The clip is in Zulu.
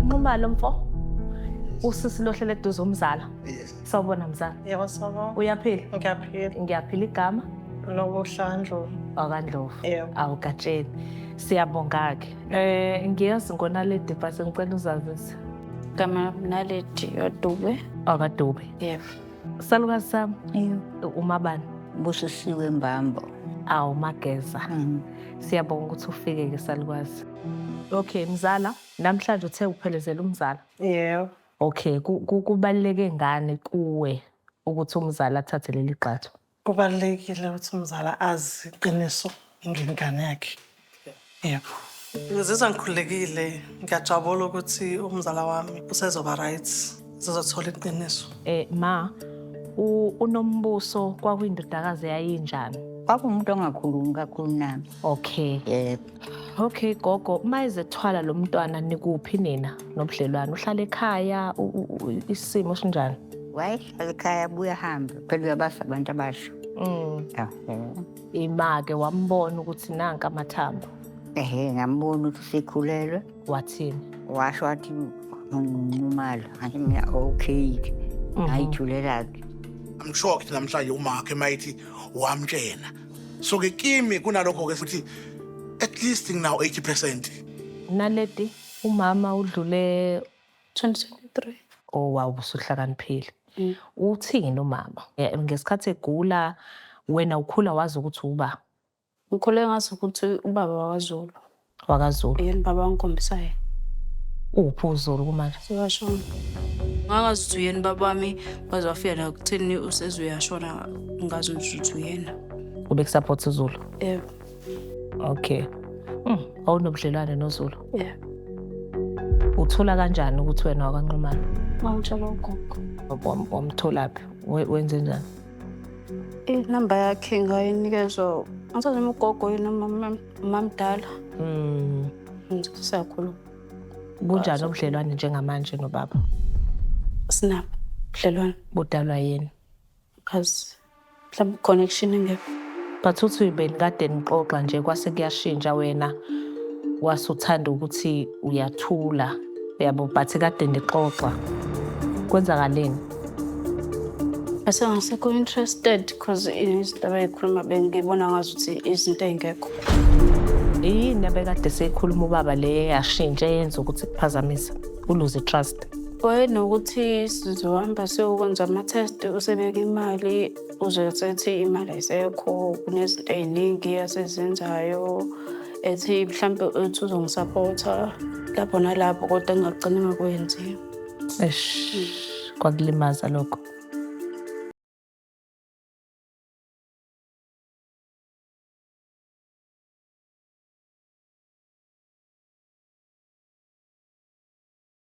Nqumalo mfo. Usisi lohlele eduze umzala. Sawubona mzala. Yebo sawubona. Uyaphila? Ngiyaphila. Ngiyaphila igama. Lokuhlandlo. Wakandlovu. Yebo. Awugatsheni. Siyabonga ke. Eh ngiyazi ngona le device ngicela uzazise. Gama naledi yodube. Akadube. Yebo. Salukazi sami. Yebo. Umabani. Busisiwe Mbambo. Awu Mageza. Mm. Siyabonga ukuthi ufike ke salukazi. Okay mzala, namhlanje uthe uphelezela umzala. Yebo. Okay, kubaluleke ngani kuwe ukuthi umzala athathe leli gxathu? Kubalulekile ukuthi umzala azi iqiniso ngengane yakhe. Yebo. Ngizizwa ngikhululekile, ngiyajabula ukuthi umzala wami usezoba right, zizothola iqiniso. Eh ma, u- uNombuso kwakuyindodakazi eyayinjani? Kwakuwumuntu ongakhulumi kakhulu nami. Okay. Yebo. Okay gogo, uma ezethwala lo mntwana nikuphi nina nobudlelwane? Uhlala ekhaya, u- u- u- isimo sinjani? Waye Ekhaya buya hambe phela uyabasa abantu abasha. Mm. Ah, eh. Imake wambona ukuthi nanka amathambo. Ehhe ngambona ukuthi usekhulelwe. Wathini? Washo wathi ngumalo. Hayi mina okay. Mhm. Ngayithulela ke. I'm sure ukuthi namhlanje umakhe mayithi wamtshena. So ke kimi kunalokho ke futhi at least nginawo 80%. Naledi umama udlule 2023. Oh wow usuhlakaniphile. Mm. Uthini umama? Ngesikhathi egula wena ukhula wazi ukuthi uba. Ngikhule ngazi ukuthi ubaba wakaZulu. WakaZulu. Yena baba wangikhombisayo. Uphi uZulu kumanje? Sewashona. Ngakazi ukuthi uyena baba wami waze wafika la kuthini usezuyashona ngazi ukuthi uyena. Ube kusupport uZulu? Yebo. Okay. Mm, awunobudlelwane noZulu. Yeah. Uthola kanjani ukuthi wena wakwanqumana? Ngangitshela ugogo. Wam- Wamtholaphi? We- Wenze njani? Inamba yakhe ngayinikezwa angisazi noma ugogo yini noma umam- umamdala. Mm, Siyakhuluma. bunjani ubudlelwane njengamanje nobaba? Sinabo budlelwane. Budalwa yini? Kazi mhlawumbe connection engekho. But uthi benikade nixoxa nje kwase kuyashintsha wena wase uthanda ukuthi uyathula yabo but kade nixoxa kwenzakaleni bese ngasekho interested because izinto abeyikhuluma bengibona ngazi ukuthi izinto ey'ngekho yini abekade seyikhuluma ubaba le yashintsha eyenza ukuthi kuphazamisa uluze trust Wayenokuthi sizohamba siyokwenza ama-test usebeke imali uze sethi imali ayisekho kunezinto ey'ningi asezenzayo ethi mhlawumbe ethi uzongisaphotha lapho nalapho kodwa ngingagcina ngakwenzi Eish, kwakulimaza lokho.